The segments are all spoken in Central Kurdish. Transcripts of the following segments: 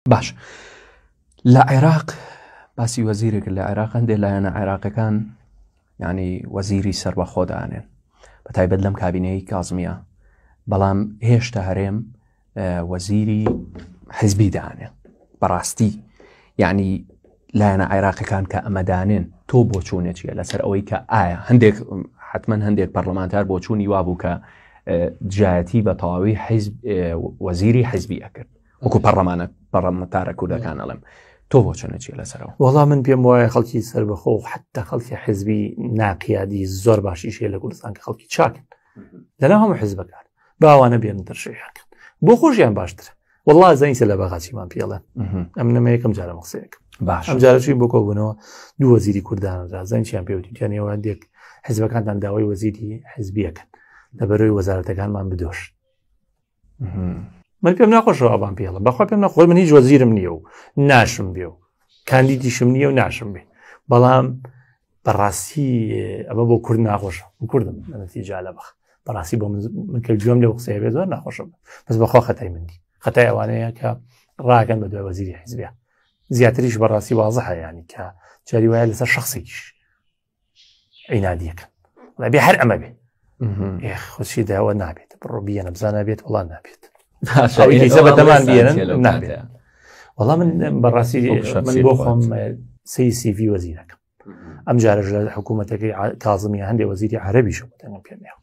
باش لە عێراق باسی وەزیرێک لە عێراق هەندێک لایەنە عێراقەکان ینی وەزیری سربەخۆ دانێن بە تایبەت لەم کابینەی کازمیە بەڵام هێشتا هەرێم وەزیری حزبی دانێ بەڕاستی یعنی لایەنە عێراقەکان کە ئەمەدانێن تۆ بۆ چوونێکیە لەسەر ئەوەی کە ئایا هەندێک حتمما هەندێک پەرلەمانتار بۆ چوونی وابوو کە دژایەتی بە تەواوی حیزب وەزیری حزبی ئەکرد وەکو پەڕەمانە پەڕەمەتارە کوردەکان ئەڵێم تۆ بۆ چەنە چیە لەسەرەوە وەڵام من پێم وایە خەڵکی سربەخۆ و حتا خەڵکی حزبی ناقیادی زۆر باشی شێ لە کوردستان کە خەڵکی چاکن لەنا هەموو حزبەکان باوانە بێن دەرشەیەکەن بۆ خۆشیان باشتر والله زەینسە لە بەغاچیمان پێڵێ ئەم نەمە یەکەم جارە مەقسەیەک باش ئەم جارەشی بۆ کۆبوونەوە دوو وەزیری کوردانەدا زەنچیان پێوتیانەوە دێک حزبەکانتان داوای وەزیری حزبیەکەن لە بەرەوەی وەزارەتەکانمان بدۆش من پێم ناخۆشەوە ئەوان پێڵە بەخوا پێم نەخۆی من هیچ وەزیرم نییە و ناشم بێ و کاندیدیشم نییە و ناشم بێ بەڵام بەڕاستی ئەمە بۆ کورد ناخۆشە کوردم ئەنەتی جالە بەخ بەڕاستی بۆ من کە گوێم لە قسەیە بێ زۆر ناخۆشم بەس بەخوا خەتای مندی خەتای ئەوانەیە کە ڕاگەن بە دوای وەزیری حیزبیا زیاتریش بەڕاستی وازە هەیەیانی کە جاری وایە لەسەر شخصێکیش عینادیەکەن بێ هەر ئەمە بێ خۆشی داوە نابێت بڕۆ بیە نەبزانە بێت وڵان نابێت بەدەمان بێنن نابێت وەڵام من بەڕاستی من بۆ خۆم سی سیڤی وەزیرەکەم ئەم جارە لە حکوومەتەکەی کازمی هەندێک وەزیری عربیش بەتەنگم پێێ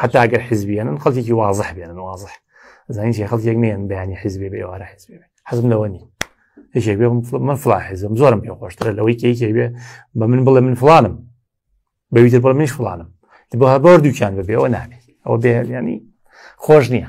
حتا ئەگەر حزبیێنن خەڵکیی وازح بێنن وازح زانین چی خەڵکێک نیان بەیانی حزبێ بێ ئێوارە حزبێ حەزم لەوە نی یەکێک بێ من فلا حزم زۆرم پێ خۆشترە لەوەی کێکێک بێ بە من بڵێ من فلانم بەویتر بڵ منش فلانم بۆ هەبار دووکیان بەبێەوە نابێت ئەوە بێ ینی خۆش نییە